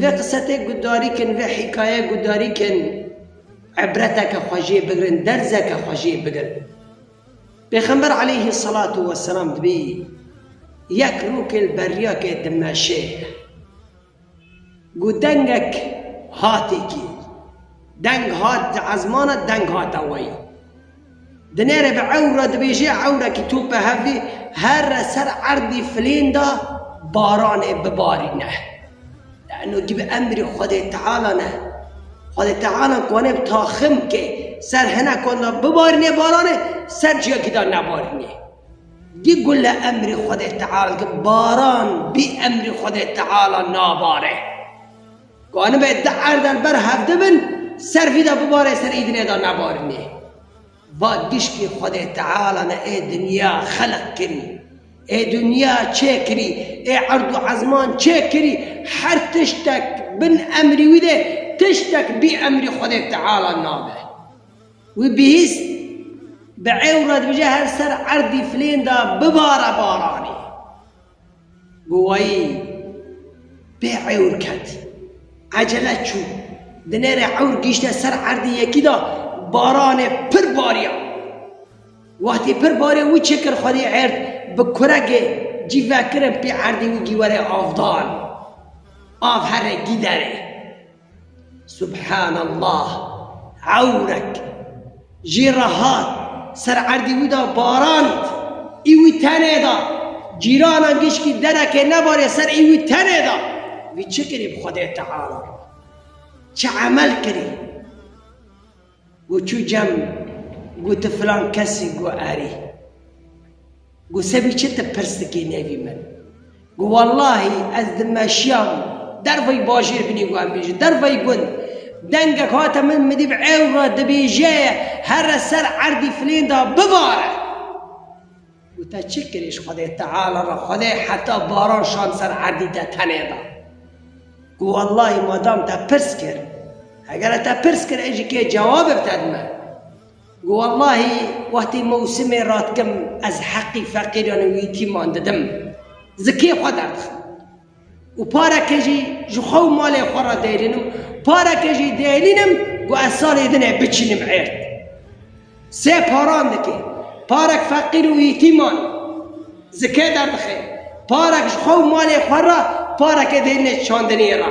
Vê qise tê gudarî kin, vê hîkaye gudarî kin îbreteke xwe jê bigirin, derzeke xwe jê bigirin. Pêxember aleyhî selatu weselam dibî yek rokê li beriyakê Dimeşê ye. Got dengek hatê kî. Deng hat di ezmana deng hate weyî. Dinêre bi ewra dibêje ewrekî tope hevlê herre ser erdê filên de baranê bibarîne. Lano di bi emrê Xwedê Teala ne. Xwedê Teala guane bi taxim ke ser hinekan de bibarîne baranê ser ciyekî de nebarîne. Di gule emrê Xwedê Teala dike baran bî emrê Xwedê Teala nabare. Ka nibe di erdan ber hevdi bin, ser vî de bibare ser îdinê de nebarinê. Va dişkî Xwedê Teala ne ê dinya xelq kirî, ê dinya çê kirî, ê erd û ezman çê kirî, her tiştek bin emrî wî de tiştek bî emrî Xwedê Teala nabe. Wî bihîst, bi ewre dibije her ser erdî filên de bibare baranê. Gowayî bê ewr ket. Ecele çû. Di nêrê ewr gihîşte ser erdî yekî de baranê pir bariya. Wextî pir barê wî çi kir xwedî êrd bi kuregê cî vekirin pê erdî wî gî were avdan. Av here gî derê. Subhanallah! Ewrek jê re hat, ser erdê wî de baran ît. Î wî tenê da. Cîranan gişkî derekê nebarê ser î wî tenê da. Wî çi kirî bi Xwedê Teala re? Çi emel kirî? Got çû cem got tu filan kes î? Got erê. Got sebî çi tu pirs dikî nêvî min? Got wellahî ez di meşiya derveyî bajêr binî got em bêjin derveyî gund dengek hate min min dîb ewre dibêje here ser erdî filênda bivare. Û te çi kirî ji Xwedê Teala re? Xwedê heta baran şand ser erdî te tenê da. Ku wellahî madam te pirs kir, hegere te pirs kir ez jî kê cewabê bi te dime. Ku wellahî wextê mewsimê ra dikim ez heqî feqîran û yetîman didim. Zikê xwe derdixim. Û pareke jî ji xwe û malê xwe re dêrînim, pareke jî dêrînim ku ez salê din ê biçînim êrd. Sê paran dike, parek feqîr û yîtîman zikê derdixe, parek ji xwe û malê xwe re, pareke dêrînê çandiniyê re.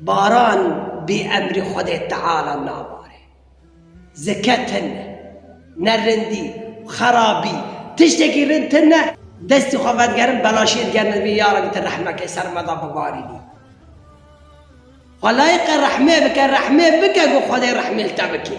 Baran bi emrê Xwedê Teala nabare. Zeke tune, ne rindî, xerabî, tiştekî rind tune, destê xwe vedigerin bela şêr gerîne dibê ya Rebî tu rehmeke ser me de bibarînî. Xwe layiqe rehmê bike, rehmê bike ku Xwedê rehmê li te bike.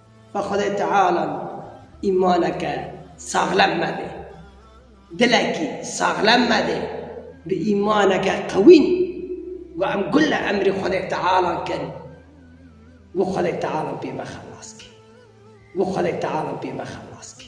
Bi Xwedê Teala îmaneke saxlem mebê. Dilekî saxlem mebê bi îmaneke qewî got em gule emrê Xwedê Teala kin got Xwedê Teala pê me xelas kê. Got Xwedê Teala pê me xelas kê.